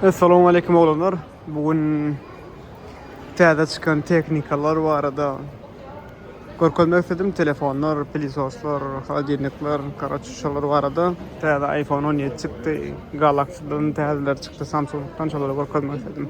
Assalamu aleykum oglanlar. Bugün täze çykan tehnikalar barada görkezmek istedim. Telefonlar, pilisoslar, holodilnikler, karaç şolar barada. Täze iPhone 17 çykdy. Galaxy-dan täzeler çykdy, Samsung-dan şolary görkezmek istedim.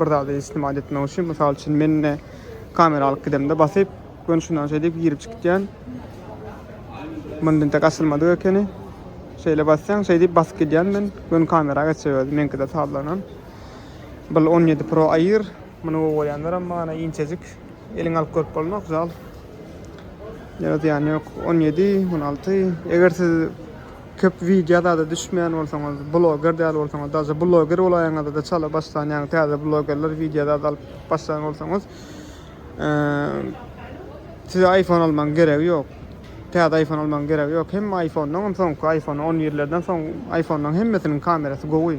bir zady istimale etmek üçin mysal üçin men indi kamera alyp gidemde basyp göni şundan şeýle diýip girip çykyp diýen mundintek açylmadyk ekeni şeýle basýan şeý diýip basyp gidýän men göni kamera geçýär özi meňkide sazlanan bul 17 pro aýyr muny gowy görýänler amma ana inçejik eliň alyp görüp bolmak zal ýa ýan ýok 17 16 eger siz Köp wideo zada düşmeýän bolsaňyz bloger däl bolsaňyz daže bloger bolaýaňyzada çala başlan ýaňy täze blogerler wideo zada alyp başlan bolsaňyz size iphone almaň geregi ýok täze iphone almaň geregi ýok hemme iphone-dan soňky iphone on birlerden soň iphone-laryň hemmesiniň kamerasy gowy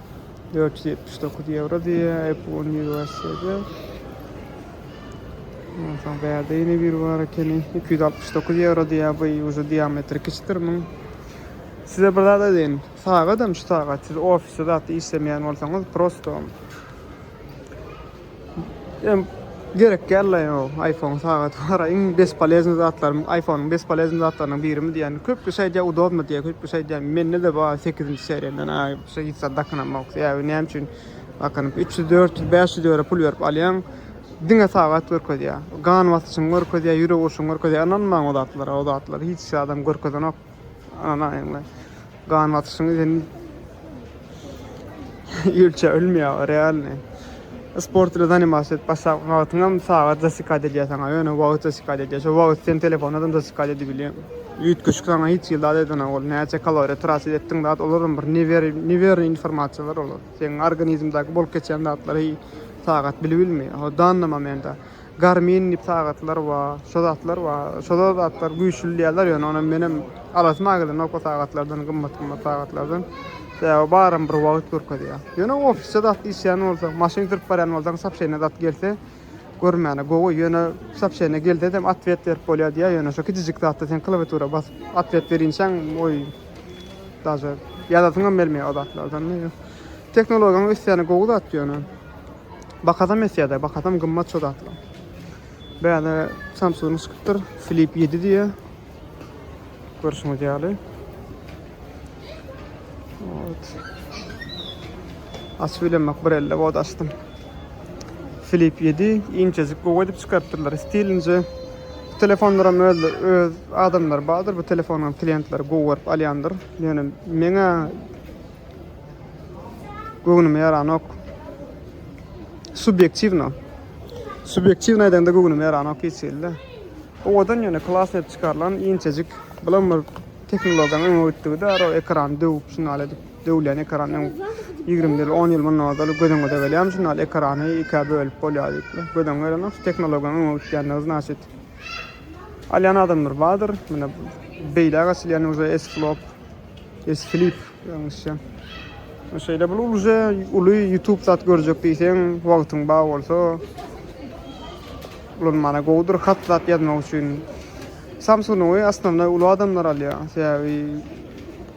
dört ýüz ýetmiş dokuz ýewro diýýär Apple Universe-de. Ondan soň bärde ýene biri bar ekeni. Iki ýüz altmyş dokuz ýewro diýýär. Bu ýuwja diametri kiçidir muň. Size bir zat aýdaýyn. Sagadam şu sagat siz ofisde zat işlemeýän bolsaňyz prosto Em gerek däl la ýa iPhone sagaty bara iň bespoleznyý zatlar iPhone-yň bespoleznyý zatlarynyň birimi diýen. Köpüsi aýdýar udobny diýýär, köpüsi aýdýar mende-de bar sekizinji seriýadan a şo hiç zat dakynamok sebäbi näme üçin dakynyp üç ýüz dört ýüz bäş ýüz ýöro pul berip alýaň diňe sagat görkezýär gan basyşyňy görkezýär ýürek urşuňy görkezýär ynanmaň o zatlara o zatlar hiç zadam görkezenok. Ananaýyňla. Gan basyşyň sen ölçä ölmeýär realny. Sport ile zanimasiýa et başlap wagtyňam sagat zasikad edýär saňa. Ýöne wagt zasikad edýär. Şo wagt sen telefona da zasikad edip bilýär. Üýtgeşik saňa hiç hili zat edene ol. Näçe kaloriýa tratit etdiň zat olaram bir newer newer informasiýalar olar. Seň organizmdaky bolup geçýän zatlary sagat bilip bilmeýär. Ho dannama mende. Garmin diýip sagatlar bar, şo zatlar bar. Şolar zatlar güýçli diýýärler, ýöne onam menem alasym agelenok o sagatlardan, gymmat-gymmat sagatlardan. Sebäbi baram bir wagt görkezýär. Ýöne ofisde zat işleýän bolsaň, maşyn sürüp barýan bolsaň, sopşeniýa zat gelse, görmäne gowy. Ýöne sopşeniýa gelsem otwet berip bolýar diýýär, ýöne şo kiçijik zatda sen klawiatura basyp otwet berinçäň, oý, daže ýazasyňam gelmeýär o zatlardan. Tehnologiýanyň ösýäni gowy zat ýöne. Bakasam esýädä bakasam gymmat şo zatlar. Bäde Samsung çykypdyr Flip 7 diýe. Görşüňiz ýaly. Ot. Açyp bilemek bir elle bot açdym. Flip 7 inçejik gowy edip çykarypdyrlar stilince. Bu telefonlar hem öz, öz adamlar bardyr. Bu telefonun klientleri gowy görüp alýandyr. Ýöne meňe Göwnüme ýaranok. Subýektiwno. Subýektiwno aýdanda göwnüme ýaranok hiç hili. Owadan ýöne klas edip çykarylan inçejik bilen bir tehnologiýanyň öňe gitdigi de o ekran döwüp şunal edip döwlen ekran 20 ýyl 10 ýyl mundan ozal göz öňüňde gelýär şunal ekrany ikä bölüp bolýar diýip göz öňüňe gelenok şu tehnologiýanyň öňe gitýändigi znaçit alýan adamlar bardyr mine beýläk açylýan uje esklop Is flip ýalňyşýan. Şeýle bul uluje uly YouTube zat görjek diýseň, wagtyň bar bolsa ulanmana gowudyr hat zat ýazmak üçin. Samsung-y asnownoý uly adamlar alýar. Sebäbi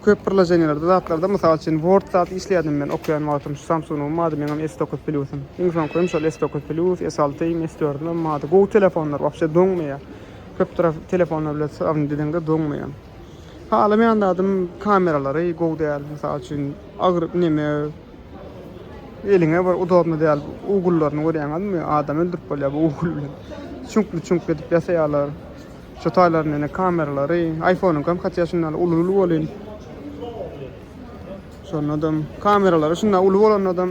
köp birlajenýelerde zatlarda mysal üçin Word zat işleýärdim men okaýan wagtym şu Samsung-yň bardy meň hem S9 Plus-ym. Iň soňky hem şol S9 Plus, S6-ym, S4-üm hem bardy. Gowy telefonlar wapşe doňmaýar. Köp tarap telefonlar bilen syrygny diýdiňde doňmaýar. Halamaýan zadym kameralary gowy däl. Mysal üçin agyr neme eliňe bir udobno däl. Ugullaryny görýäňizmi? Adam öldürip bolýar bu ugul bilen. Çüňkli çüňkli edip ýasaýarlar. Şu taýlaryny ene kameralary. Aýfonyňkam hatda şundan uly uly bolýn. Şonadam kameralary şundan uly bolanadam.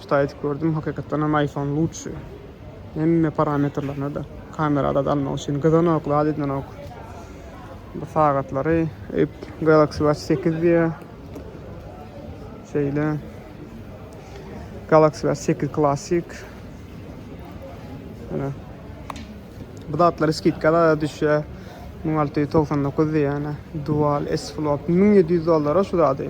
Çyda edip gördüm hakykatdan hem iPhone lutşy hemme parametrlerine de kamera zat almak üçin gyzanok zat edinenok bu sagatlary öýüp Galaxy Watch sekiz diýe şeýle Galaxy Watch sekiz klasik ýöne bu zatlary skidkada düşýär müň alty ýüz togsan dokuz diýýän dual S Flop müň ýedi ýüz dollara şu zady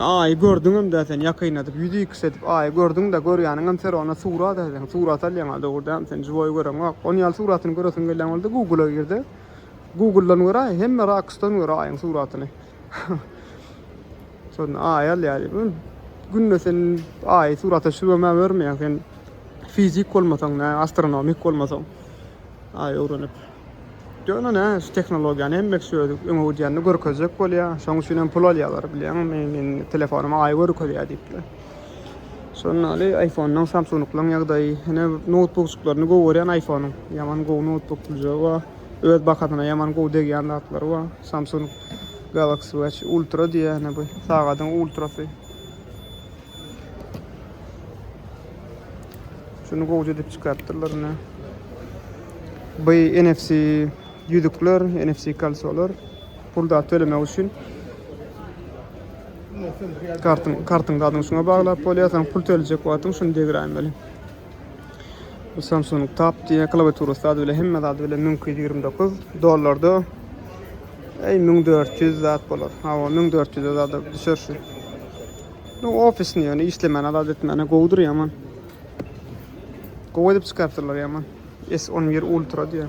Aýy gördüňem-dä sen ýakynladyp, ýüzi iks edip Aýy gördüň-dä, görýäniňem ser ony surat edýäň, surat alýaň-a, dogry dämi sen žiwoý göreňok. Ony ýaly suratyny göresiň gelýän bolsa Google-a gir-de, Google-dan gör-aý, hemme rakusdan gör Aýyň suratyny. Şonda Aýy alýar. Günde sen Aýy surata düşüribem-ä görmeýäň, sen fizik bolmasaň, astronomik bolmasaň. Aý öwrenip. Ýöne nä, şu tehnologiýany hemme kişi özi öňe gidýänini görkezjek bolýa. Şoň üçin hem pul alýalar bilýäňmi? Meniň telefonuma aý görkezýä diýipler. Şondan aly iPhone-dan Samsung-nyň ýagdaýy. Ine noutbukjyklaryny gowy görýän iPhone-nyň. Ýaman gowy noutbuk duzjagy bar. Öz bahasyna ýaman gowy degýän zatlary bar. Samsung Galaxy Watch Ultra diýýär ine bu sagadyň ultrasy. Şuny gowja edip çykarypdyrlar ine. Bu NFC ýüzükler, NFC kalsolar pulda tölemek üçin kartyň kartyň zadyny şuňa baglap bolýar. Sen pul töljek wagtyň şuny degiräýmeli. Bu Samsung Tab diýýär. Klawiaturasy zady bilen hemme zady bilen müň iki ýüz ýigrimi dokuz dollarda. Eý, müň dört ýüz zat bolar. Hawa, müň dört ýüze zada düşer şu. Bu ofisni ýöne işlemäne zat etmäne gowudyr ýaman. Gowy edip çykarypdyrlar ýaman. S on bir Ultra diýýär.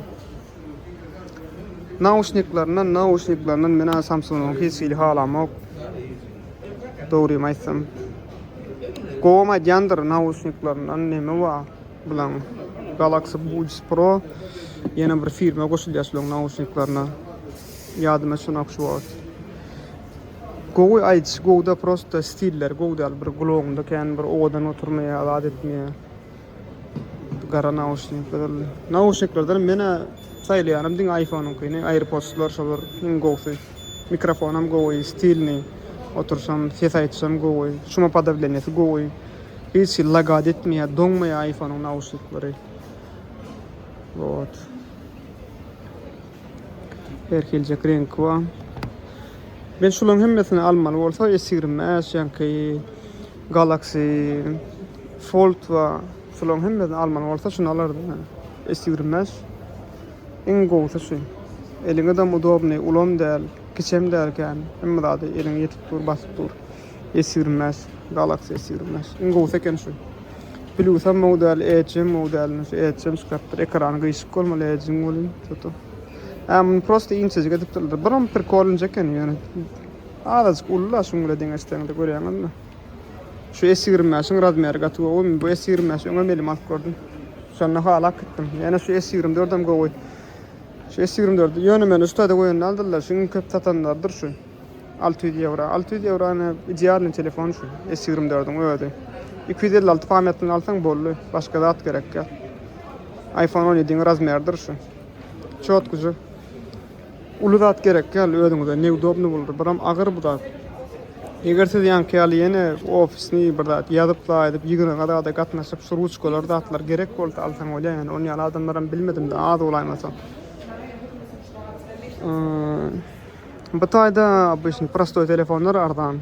Nauşniklerden nauşniklerden menä Samsung hiç hili halamok. Dogrymy aýtsam. Gowam aýdýandyr nauşniklerden neme wa bilen Galaxy Buds Pro ýene bir firma goşulýar şularyň nauşniklerine. Ýadyma şu naxş wagt. Gowy aýdyş, gowda prosta stilleri gowy däl. Bir gulagymda kän bir owadan oturmaýar, zat etmeýär. Gara nauşnikler. Nauşniklerden menä saýlaýanym diňe iPhone-yňkyny, AirPods-lar şolar iň gowsy. Mikrofonam gowy, stilnyý. Otursam, ses aýtsam gowy. Şumopodawleniýesi gowy. Hiç hili lagat etmeýär, doňmaýar iPhone-yň nauşnikleri. Wot. Her hiljek reňki bar. Men şularyň hemmesini almaly bolsa, esirme, äşýäňki Galaxy fold bar. Şolaryň hemmesini almaly bolsa şuny alardym men. S ýigrimi bäş iň gowusy şu. Eliňedem udobnyý, ulam däl, kiçem däl kän. Hemme zady eliňe ýetip dur, basyp dur. S ýigrimi bäş, Galaxy S ýigrimi bäş. Iň gowusy eken şu. Plusam gowy däl, Edge'em gowy däl. Indi şu Edge'em çykarypdyr. Ekrany gyşyk bolmaly Edge'iň welin, to-to. Hä, muny prosta inçejik edipdirler. Buram prikolnyja eken ýöne. Azajyk ulla şuň bile deňeşseňde görýäňizmi. Şu S ýigrimi bäşiň razmeri gaty gowymy bu S ýigrimi bäşi öňem elime alyp gördüm. Şonda halap gitdim. Ýene şu S ýigrimi dördem gowy. Şu S ýigrimi dördi ýöne meni uçtada goýan däldirler şu iň köp satanlardyr şu. Alty ýüz ýewro. Alty ýüz ýewrony idealnyý telefon şu S ýigrimi dördiň özi. Iki ýüz elli alty pamýatlyny alsaň boldy. Başga zat gerekýär. Aýfon on ýediň razmeridir şu. Çotkyjy. Uly zat gerek däl özüňize neudobny boldy biram agyr bu zat eger siz ýaňky ýaly ýene ofisni bir zat ýazyp laýyzyp ýygnaga zada gatnaşyp şu ruçkalar zatlar gerek bolsa alsaň bolýa ýöne ony ýaly adamlaram bilmedimde az bolaýmasa bu taýda obişni prostoý telefonlar arzan.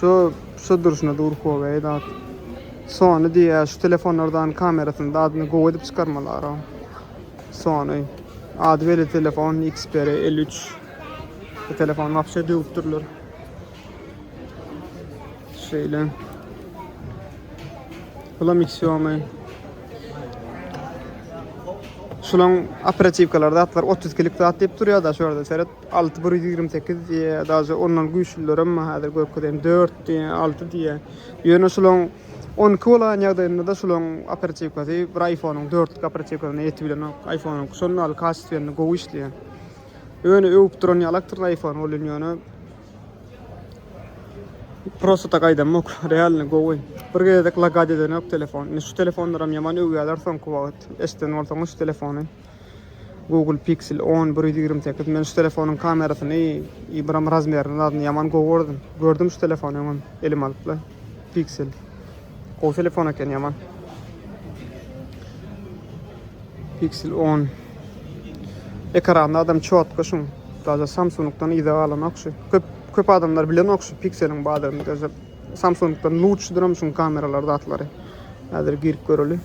Şu şu duruşuna dur Huawei da. Sony diýýär, şu telefonlardan kamerasyny da adyny gowy edip çykarmalar. Sony. Ady belli telefon Xperia 53. Bu telefon wapşe döwüp durlar. Şeýle. Bulam Xiaomi. Şulaň operatiwkalar zatlar 30 kilik zat diýip durýar da şu ýerde seret 6 128 diýýär daže ondan güýçlülerem häzir görkezýän 4 diýýär 6 diýýär. Ýöne şulaň 12 bolan ýagdaýynda da şulaň operatiwkasy bir iPhone-yň 4 lik operatiwkasyna ýetip bilenok. iPhone-yň şonda ýaly kastwýenli gowy işleýär. Ýöne öwüp duran ýalakdyr iPhone ol ýöne Prosta tak aýdamok, realny gowy. Bir gezek lagad edenok telefon. Indi şu telefonlaram ýaman öwýäler soňky wagt. Eşden bolsaňyz şu telefony. Google Pixel on bir ýüz ýigrimi sekiz. Men şu telefonyň kamerasyny, iýbiram razmerini zadny ýaman gowy gördüm. Gördüm şu telefony öňem elim alypla. Pixel. Gowy telefon eken ýaman. Pixel 10. Ekranda adam çotko şun. Daza Samsung'dan ýa galan okşy. Köp köp adamlar bilen okşy Pixel'in badyny gözep. Samsung'dan lutşydyr hem şun kameralar zatlary. Häzir girip göreli.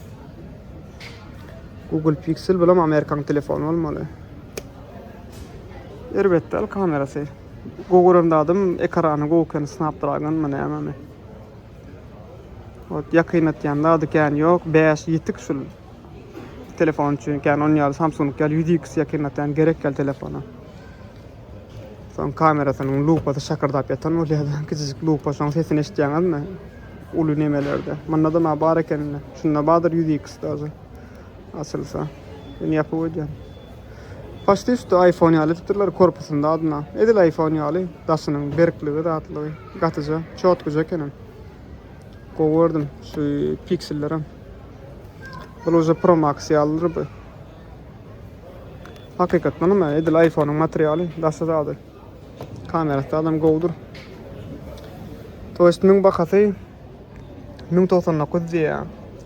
Google Pixel bilen Amerikan telefonu olmaly. Erbet däl kamerasy. Gowy gören zadym ekrany gowy ekeni snapdragon my näme mi ot ýakynlatýan zady kän ýok bäş ýetik şul telefon üçin kän on ýaly samsung ýaly ýüz iks ýakynlatýan gerek ýaly telefona soň kamerasynyň lupasy şakyrdap ýatan bolýar kiçijik lupa şoň sesini eşitýäňizmi uly nemelerde munda da bar ekeni şunda bardyr ýüz iks daže Açylsa. Indi ýapyp goýdýan. Paçti üsti iPhone ýaly edipdirler korpusynda adyna. Edil iPhone ýaly daşynyň berkligi zatlygy gatyja çotkyja ekenem. Gowy gördüm şu piksellerem. Bul uja Pro Max ýalydyr bu. Hakykatdan hem edil iPhone-yň materialy daşy zady. Kamerasy adam gowudyr. Toýstimiň bahasy Müň togsan dokuz diýýä.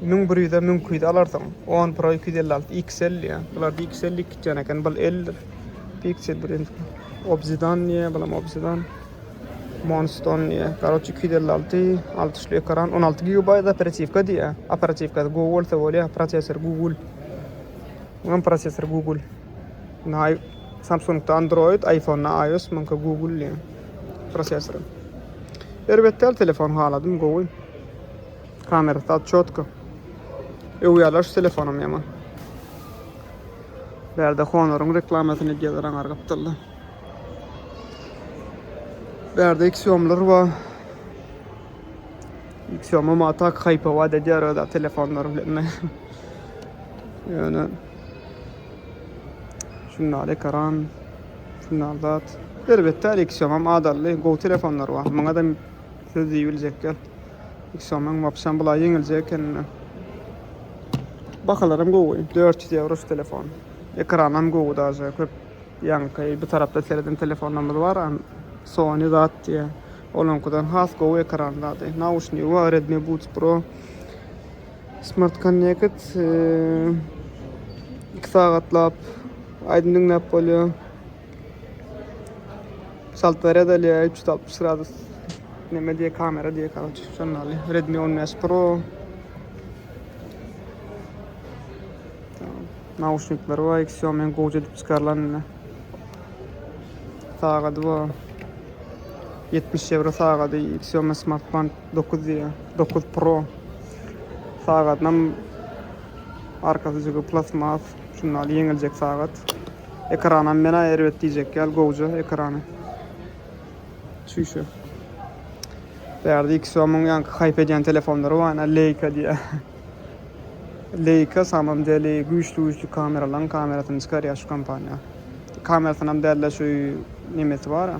Müň bir ýüze müň iki ýüz alarsyň. On pro iki ýüz elli alty XL diýýä. Bularda XL lik gitýän eken. Bul L-dir. Pixel bir ýüz. Obsidan diýýä. Bulam obsidan. Monston diýýä. Garoç iki ýüz elli alty. Altuşly ekran. On alty gigabaýt operatiwka diýýä. Operatiwka Google bolsa bolýa. Prosessor Google. Oňam prosessor Google. Indi I Samsungda Android, iPhonda iOS, muňka Google diýen prosessory. Erbet däl telefon haladym gowy. Kamerasy az çotko. Öwýärler şu telefonam ýaman. Bärde Honoryň reklamasyny edýärler aňar gapdalda. Bärde Xiaomi'ler bar. Xiaomi ma tak haýpa wada edýär öda telefonlary bilen. Ýöne şundaly ekran, şundaly zat. Elbetde, Xiaomi adally gowy telefonlar bar. Muňa da söz diýip biljek ýok. Xiaomi wapşem bulaý ýeňiljek ekeni. Bahalaram gowy, 400 ýewro şu telefon. Ekranam gowy daže, köp ýaňky bu tarapda sereden telefonlarymyz bar, Sony zat diýýä. Olaňkydan has gowy ekran zady. Nauşnigi bar, Redmi Buds Pro. Smart Connect iki sagatlap aýdym diňläp bolýar. Salt red alýar 360 gradus. Neme diýe kamera diýe karoç. Şonda aly. Redmi 15 Pro. Nauşnikler var. Xiaomi gowy edip çykarylan indi. Sagady var. 70 euro sagady Xiaomi Smart Band. Dokuz diýýär. Dokuz pro. Sagadynam arkasy jygy plastmas. Şunda ýaly ýeňiljek sagat. Ekranam menä erbet diýjek ýaly gowja ekrany. Çüýşe. Bärde iki somyň ýaňky haýp edýän telefonlary bar, ene Leica diýýär. Leica samym deli güýçli-güýçli kameralaryň kamerasyny çykarýar şu kompaniýa. Kamerasynam däl-de şu nemesi bar-a,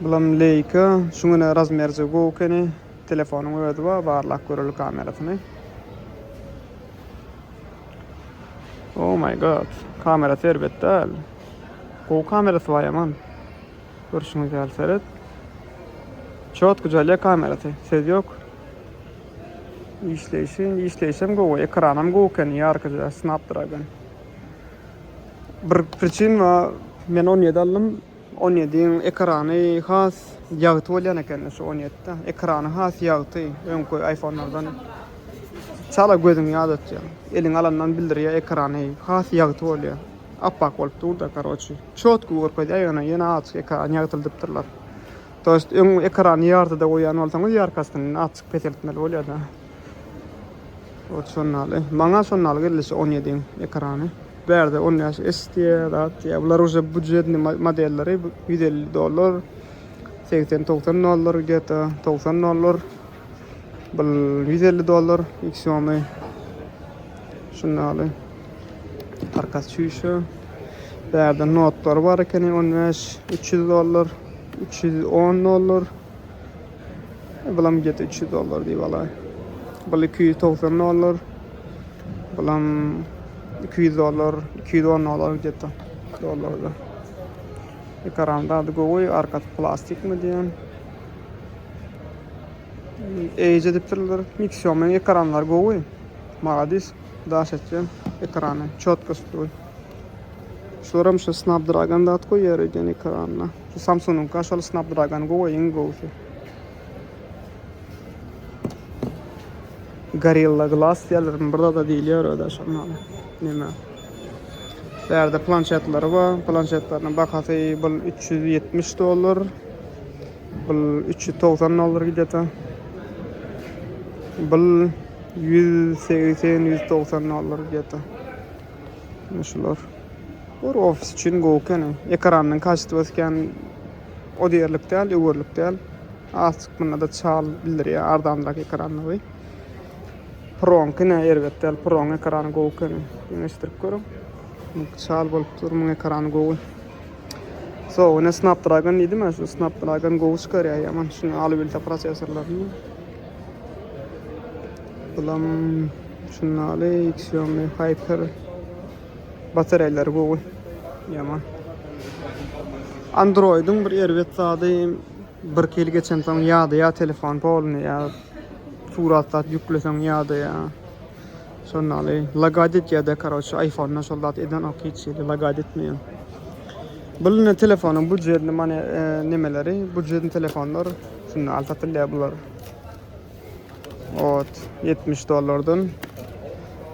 Bulam Leica. Şu güne razmerje gowy ekeni. Telefonyň özi bar, barlap göreli kamerasyny. Oh my god. Kamera serbet däl. Gowy kamerasy bar ýaman. Görşüňiz ýaly seret. Çot güzel kamerasy. Söz ýok. Işleýşi, işleýşem gowy. Ekranam gowy ekeni. Ýarkyja Snapdragon. Bir priçin ba men on ýedi aldym on ýediň ekrany has ýagty bolýan ekeni şu on ýetide ekrany has ýagty öňki aýfonlardan çala gözüňi ýadatýar eliňe alandan bildirýär ekrany has ýagty bolýar appak bolup durda karoçi çotky görkezýär ýöne ýene aç ekrany ýagtyldypdyrlar toýst öň ekrany ýartyda goýýan bolsaňyz ýarkasyny açyk peseltmeli bolýada. Ot sonnaly. Maňa sonnaly gelýşi on ýediň ekrany. Bärde on bäş S diýýä, zat diýýä. Bular uje budjetny modelleri ýüz elli dollar, segsen togsan dollar geta, togsan dollar. Bul ýüz elli dollar Xiaomi. Şundaly. Karkas çüýşe. Bärde notlar bar ekeni on bäş, üç ýüz dollar, üç ýüz on dollar. Bulam get üç ýüz dollar diýip alaý. Bul iki ýüz togsan dollar. Bulam iki ýüz dollar, iki ýüz on dollar gidýärdi. Dollarda. Ekran zady gowy, arkasy plastikmi diýen. Eýje dipdirler. Mixiomyň ekranlary gowy. Maladis. Daş etýän ekrany. Çotkost gowy. Şular hem şu Snapdragon zat goýýar eýýän ekranyna. Şu Samsung-nyň Kaşaly Snapdragon gowy iň gowusy. Gorilla Glass diýerlermi bir zada diýilýär öde şondan. Näme? Bärde planşetleri bar. Planşetleriň bahasy bu 370 dollar. Bu 390 dollar gidýär. Bu 180-190 dollar gidýär. Şular. Bor ofis üçin gowy kene. Ekranynyň kaçtywasy kän o diýerlik däl, öwerlik däl. Azjyk munda-da çal bildirýär arzanrak ekranlygy. Proňkyna erbet däl, proň ekrany gowy kene. Deňeşdirip görüň. Çal bolup dur, muň ekrany gowy. So, ine Snapdragon diýdim, şu Snapdragon gowy çykarýar ýaman şuny alybilse prosesorlaryny. Bulam şundaly Xiaomi Hyper Batareýleri gowy. Ýaman. Androidyň bir erbet zady birki ýyl geçensoň ýadaýar telefon polny ýa surat zat ýükleseň ýadaýar. Şondan ýaly lagad etýärde karoçe aýfonda şol zat edenok hiç hili lagad etmeýär. Bul indi telefonyň budjetini many nemeleri budjetni telefonlar şunda al satylýar bular. Ot ýetmiş dollardan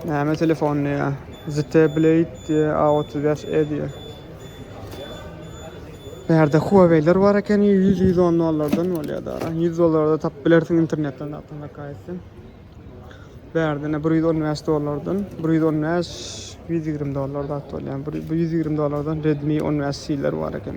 näme telefon diýýär. Zte Blade diýýär, A otuz bäş E diýýär. Bu ýerde Huawei'ler bar eken, ýüz ýüz on dollardan bolýar da. Ýüz dollarda tapyp bilersiň internetden tapyp maka etsen. Bu ýerde ine bir ýüz on bäş dollardan, bir ýüz on bäş, ýüz ýigrimi dollarda tapyp bolýar. Bu ýüz ýigrimi dollardan Redmi on bäş C-ler bar eken.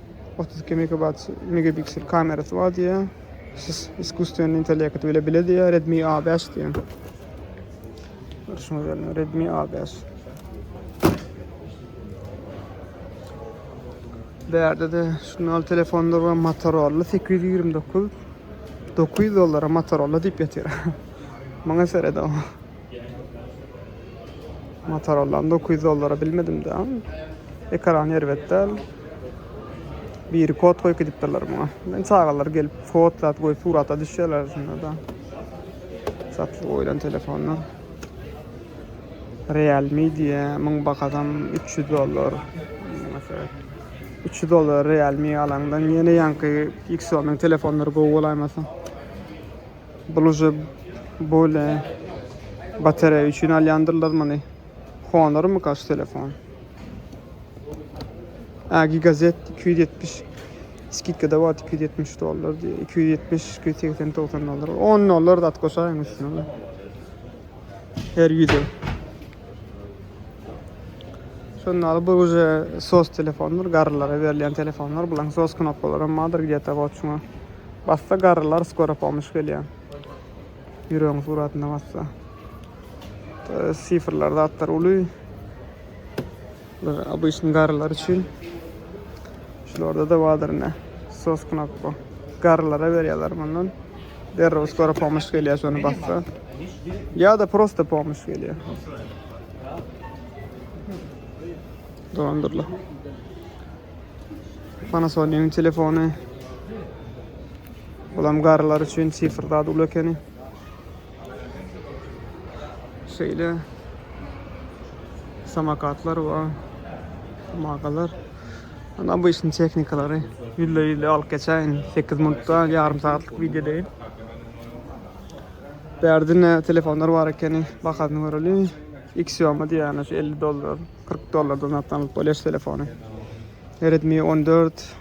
Otuz iki megabat megapiksel kamerasy bar diýýär. Siz iskusstwenniý intellekt bile bile diýýär Redmi A bäş diýýär. Görüşmek üzere Redmi A bäş. Bu ýerde de şundan telefonlar bar Motorola sekiz ýüz ýigrimi dokuz. Dokuz ýüz dollara Motorola diýip ýatyr. Maňa seredip. Motorola dokuz ýüz dollara bilmedim-de. Ekran erbet däl. Biri kod goýup gidipdirler muňa. Men çagalar gelip fotlap goýup surata düşýärler şunda-da. Satlyk goýlan telefonlar. Realme diýe, muň bahasam 300 dollar. 300 dollar Realme alaňdan ýene ýaňky Xiaomi telefonlar gowy bolaýmasa. Bul uje bole batareýa üçin alýandyrlar muny. Honormyka şu telefon? Ä gigazet 270 skidkada bar 270 dollar diýe. 270 280 90 dollar. 10 dollar da at goşaýyň üstüne. Her ýüze. Şonda alyp bu uje sos telefondur, garrylara berilýän telefonlar. Bulaň sos knopkalary hem bardyr, gdýata goçuňa. Bassa garrylar skora pomuş gelýär. Ýüregiň suratyna bassa. Sifrler zatlar uly. Obýşny garrylar üçin. Şularda da bardyr ne. Sos knopka. Garrylara berýärler mundan. Derrew skora pomuş gelýär şony bassa. Ýa-da prosta pomuş gelýär. Dolandyrla. Panasonic-iň telefony. Bulam garrylar üçin sifr zat uly ekeni. Şeýle samakatlar we magalar. Ana bu işin tehnikalary ýülle-ýülle alyp geçäýin. 8 minutda ýarym sagatlyk wideo deýin. Bärdine telefonlar bar ekeni. Bahasyny göreli. Xiaomi diýýän şu 50 dollar. 40 dollardan satyn alyp bolýar şu telefony. Redmi 14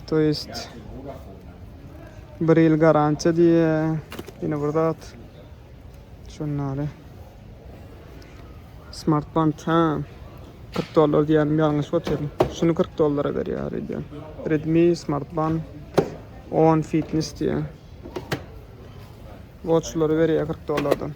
To jest bir ýyl garantiýa diýe. Ýene bir zat. Şunlary. Smartband ha. 40 dollar diýen ýalňyş otyryn. Şuny 40 dollara berýär diýen. Redmi smartband 10 fitness diýen. Watchlary berýär 40 dollardan.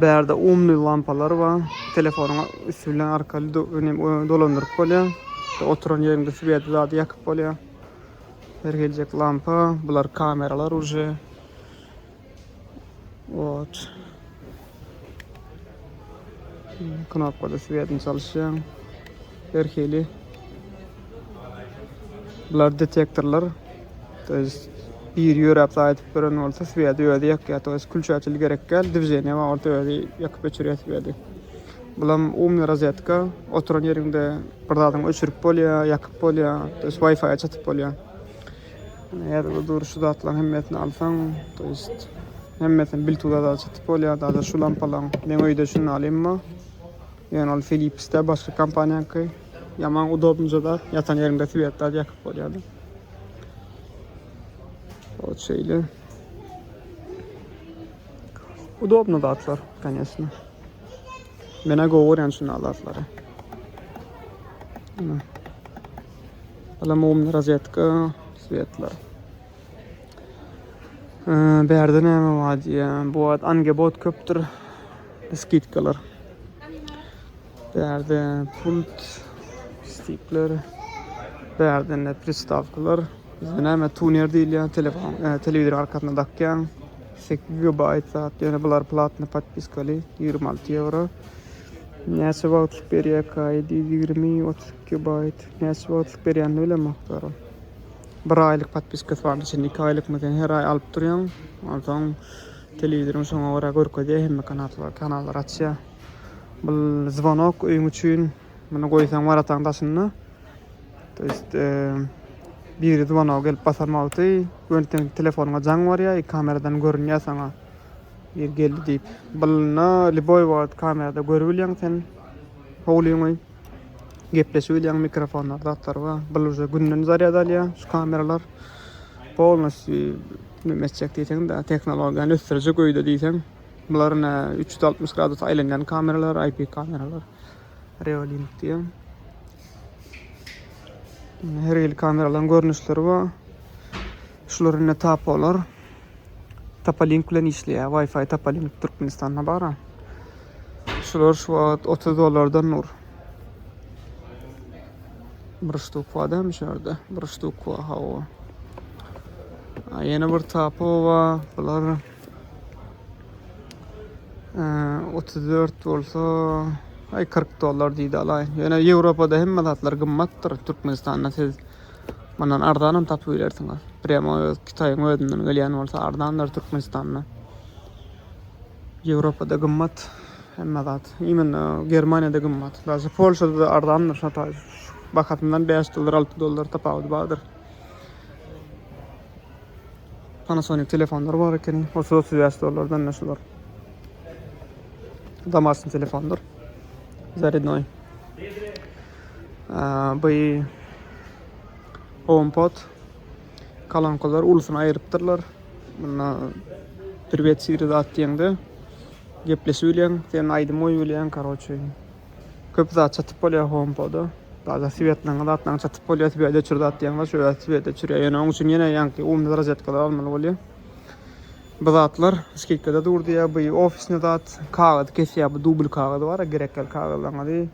Bärde umly lampalar bar. Telefonyňa üstü bilen arkaly dolandyryp bolýar. Oturan ýeriňde swet zady ýakyp bolýar. Her geljek lampa, bular kameralar uje. Watch. Knopkada swiýetini çalyşýaň. Her hili. Bular detektorlar. To ýest bir ýöräp zaýadyp beren bolsa swiýedi özi ýakýar. To ýest külçäçil gerek däl. Dwiženiýe bar orta özi ýakyp öçürýär swiýedi. Bulam umny rozetka. Oturan ýeriňde bir zadyňy öçürip bolýar, ýakyp bolýar. To ýest wi-fi-a çatyp bolýar. Ine her bir dur şu zatlaryň hemmesini alsaň, to jest hemmesini bil tuda da çytyp bolýar. Daýza şu lampalaryň meň öýde şuny alymmy? Ýöne ol Philips-de başga kompaniýaňky. Ýaman udobnyja zat, ýatan ýeriňde swiet da ýakyp bolýar. Ot şeýle. Udobny zatlar, конечно. Menä gowy görýän şuny alatlary. Ine. Alamowumda rozetka, svetler. Bärde näme bar diýýän. Bu wagt angebot köpdür. Skidkalar. Bärde pult, stikler. Bärde ne pristawkalar. Bizde näme tuner diýilýän, telefon, e, telewizor arkasyna dakýan. 8 GB zat. Ýöne bular platny podpiskali 26 ýewro. Näçe wagtlyk berýär kaý 20 30 Gigabyte näçe wagtlyk berýänini bilemok zerem. Bir aýlyk podpiskasy bar içinde iki aýlykmy sen her aý alyp durýaň. Onsoň telewizoryň şoňa görä görkezýär hemme kanallary kanallary açýar. Bu zvonok öýüň üçin muny goýsaň warataň daşynda. To есть biri zvonoga gelip basan wagty gönten telefonyňa jaň barýar, iki kameradan görünýär saňa. Bir geldi diýip. Bulna liboý wagt kamerada görübilýäň sen. Howlyňy Gepleşibilýän mikrofonlar zatlar bar. Bul uje günden zarýad alýar şu kameralar. Polnosty näme etjek diýseň-de tehnologiýany ösdürjek öýde diýseň. Bular ine üç ýüz altmyş gradus aýlanýan kameralar, IP kameralar. Reolink diýen. Her hili kameralaryň görnüşleri bar. Şular ine tapolar. Tapalink bilen işleýär. Wi-Fi Tapalink Türkmenistanda bar. Şular şu wagt 30 dollardan dur. Bir ştuk bar dämi şu ýerde? Bir ştuk bar, hawa. A ýene bir tapu bar. Bular 34 e, bolsa ay 40 dollar diýdi alaýyn. Ýöne Ýewropada hemme zatlar gymmatdyr. Türkmenistanda siz Mundan arzanam tapyp bilersiňiz. Prema öz Kitaýyň özünden gelýän bolsa arzandyr Türkmenistanda. Ýewropada gymmat hemme zat. Imенно Germaniýada gymmat. Daže Polşada-da arzandyr şataý. Bahasyndan bäş dollar, alty dollar tapawudy bardyr. Panasonic telefonlar bar ekeni. Otuz, otuz bäş dollardan da şular. Damasyn telefondyr. Zarydnoý. By HomePod kalankalar ulusyny aýrypdyrlar. Munda Privet Siri zat diýende gepleşip bilýän, sen aýdym goýup bilýän, karoçe. Köp zat çatyp bolýar HomePoda. Daýda swetleriň zatlaryň çatyp bolýar, swet öçür zat diýen bar, şöýle swet öçürýär. Ýöne oň üçin ýene ýaňky umda rozetkalar almaly bolýar. Bu zatlar skidkada dur diýýär. By ofisny zat, kagyz kesýär, bu dubl kagyz bar, gerekli kagyzlaňyzy.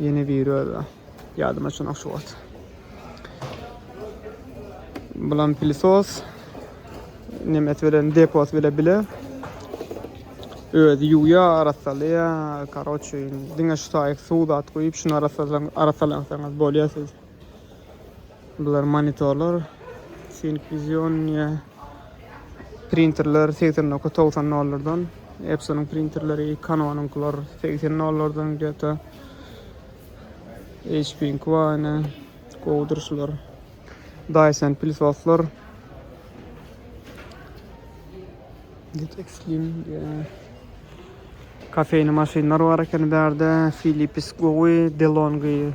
Ýene biri özi. Ýadyma çynak şu wagt. Bulam pilisos. Nemes bilen depos bile bile. Özi ýuwýa, arassalýa. Karoçe, diňe şu taýyk suw zat guýup, şuny arassalan, arassalansaňyz bolýar siz. Bular monitorlar, Sync Vision ýa printerler 89-90 dollardan. Epsonyň printerleri, Canonyňkylar 80 dollardan geta. HP-iň Quane, gowudyr şular. Dyson pilsoslar. Get Extreme diýä. Kafeýni maşynlar bar ekeni bärde. Philips gowy, DeLonghi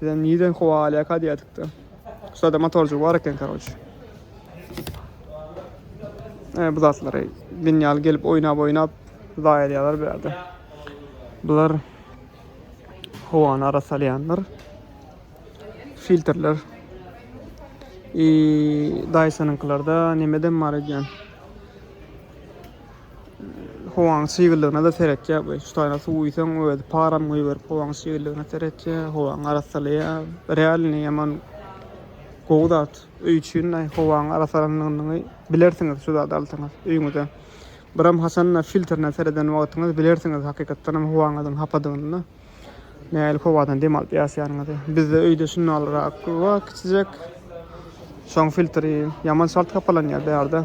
Bizem nireden howa alýaka diýýädikde. Şurada motorjyk bar eken karoç. E, bu zatlary dünýäli gelip oýnap oýnap zaýa edýärler bu ýerde. Bular howany ara salýanlar. Filtrler. I Dyson-yňkylarda nimeden bar edýän? Howaň çyglygyna-da seretýär bu. Şu taýda suw guýsaň, özi param guýberip, howaň çyglygyna seretýär, howaňy arassalaýar. Realny ýaman gowy zat. Öý üçin-de howaň arassalandygyny bilersiňiz şu zady alsaňyz öýüňize. Biram haçanda filtrine sereden wagtyňyz bilersiňiz hakykatdan hem howaňyzyň hapadygyny-da. Nähili howadan dem alyp ýaşaýanyňyzy. Bizde öýde şundalyrak bar kiçijek. Şoň filtri ýaman çalt hapalanýar bärde.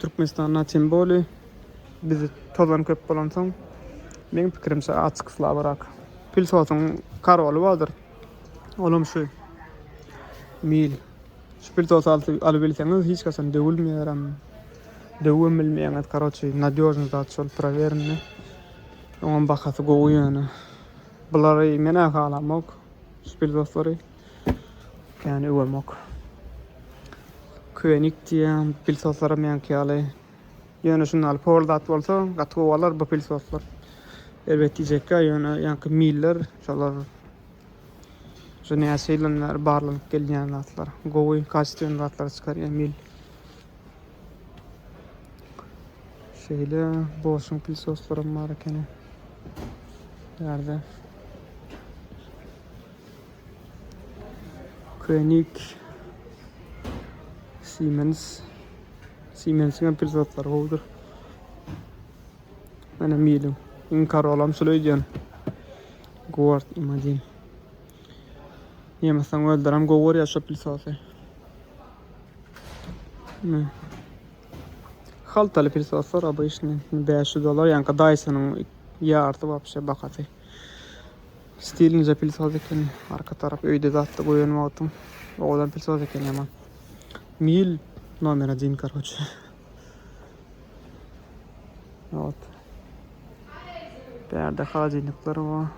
Türkmenistanda tym boly biz tozan köp bolansoň meň pikirimçe açyk slabyrak. Pilsotyň karoly bardyr. Olam şu mil. Şu pilsot alyp bilseňiz hiç haçan döwülmeýärem. Döwüm bilmeýäňiz. Karoçi nadýožny zat şol prowerni. Oňam bahasy gowy ýöne. Bulary menä halamok. Şu pilsotlary. Kän öwemok. Könik diýen pilsoslara meňki ýaly. Ýöne şunda al pol zat bolsa gaty gowy alar bu pilsoslar. Erbet diýjekkä ýöne ýaňky miller şolar şu näçe ýyldan bäri barlanyp gelýän zatlar. Gowy kastýon zatlar çykarýar mil. Şeýle boşun pilsoslarym bar ekeni. Ýerde. König Siemens Siemensiň hem pil zatlary gowudyr. Mana milim. Iň karolam şul öýdýän. Guard imadin. Nemesden welderam gowy görýär şo pil sosy. Haltaly pil soslar obýşny 500 dollar, ýanka Dyson-yň ýarty wapşe bahasy. Stiliňizde pil saz ekeni. Arka tarap öýde zatly goýan wagtyň owadan pil saz ekeni ýaman. Mil nomer 1 korotçe. Ýot. Bärde halajynyklar bar.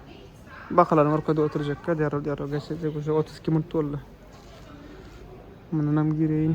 Bakalaryň orkada oturjakka derrew derrew geçirjek. Uşo 32 minut boldy. Mundan hem gireýin.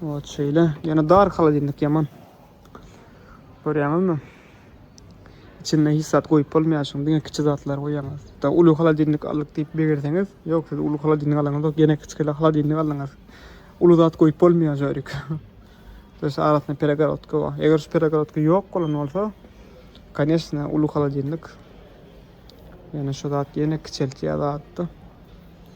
Ot şeýle. Ýene dar holodilnik ýaman. Görýäňizmi? Içinde hiç zat goýup bolmaýar şuň. Diňe kiçi zatlar goýýaňyz. Da uly holodilnik aldyk diýip begerseňiz, ýok siz uly holodilnik alaňyz ýok, ýene kiçi holodilnik aldyňyz. Uly zat goýup bolmaýar jörik. Dös arasynda peregorodka bar. Eger şu peregorodka ýok bolan bolsa, конечно, uly holodilnik. Ýene şu zat ýene kiçeltýär zatda.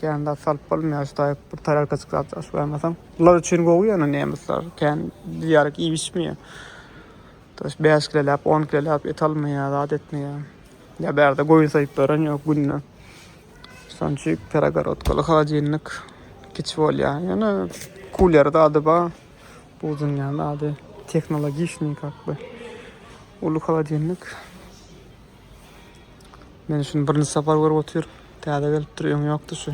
Kän zat salyp bolmaýar şu taýyk bir tarelka çykýar aç goýmasaň. Bular üçin gowy ýöne nemesler kän diýýärik iýişmeýär. Tuş bäş kiloläp on kiloläp et almaýar zat etmeýär. Ýa bärde goýun soýup beren ýok günde. Şonçik peregorodkaly holodilnik kiçi bolýar. Ýöne kuler zady bar. Bu dünýäň zady tehnologiçniý kakby. Uly holodilnik. Men şuny birinji sapar görüp otyr. Täze gelipdir, öň ýokdy şu.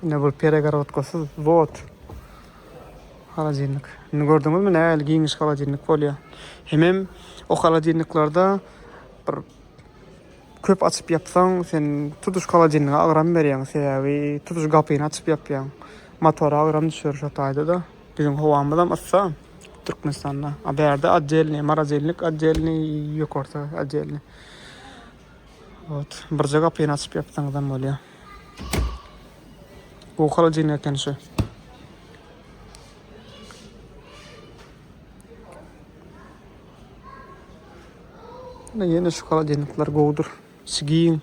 Ne bir peregorodkasyz vod. Holodilnik. Indi gördüňizmi nähili giňiş holodilnik bolýar. Hemem o holodilniklerde bir köp açyp ýapsaň, sen tutuş holodilnige agram berýäň, sebäbi tutuş gapyny açyp ýapýaň. Motora agram düşer şo taýda-da. Biziň howamyzam yssa Türkmenistanda. A bärde oddelnyý, marazelnik oddelnyý, ýokarda oddelnyý. Ot, birje gapyny açyp ýapsaňyzam bolýar. Bu holodilnik eken şu. Ýene şu holodilnikler gowudyr. Sy giň.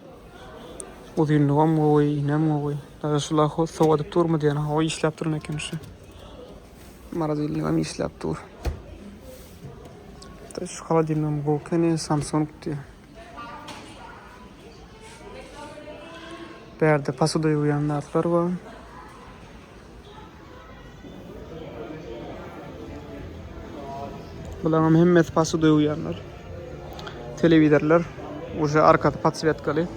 Uzynlygam gowy, iýnem gowy. Daýy şul ahwat sowadyp durmy diýen. Hawa işläp durun eken şu. Maradilnigam işläp dur. Da şu holodilnigam gowy ekeni, Samsung diýýär. Bärde posuda ýuwýan zatlar bar. Bularyň hemmesi pasy döwýänler. Telewizorlar uje arkasy podswetkaly.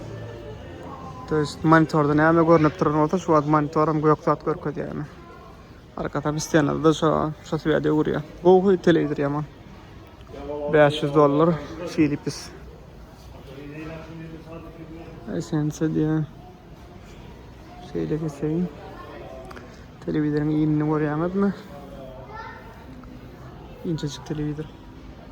To jest monitorda näme görnüp duran bolsa, şu wagt monitoram gök zat görkezýär. Arkasam stenada şu şu swede öwürýär. Gowy telewizor ýaman. 500 dollar Philips. Esense diýär. Şeýle geçeýin. Telewizoryň iýnini görýäňizmi? Inçejik telewizor.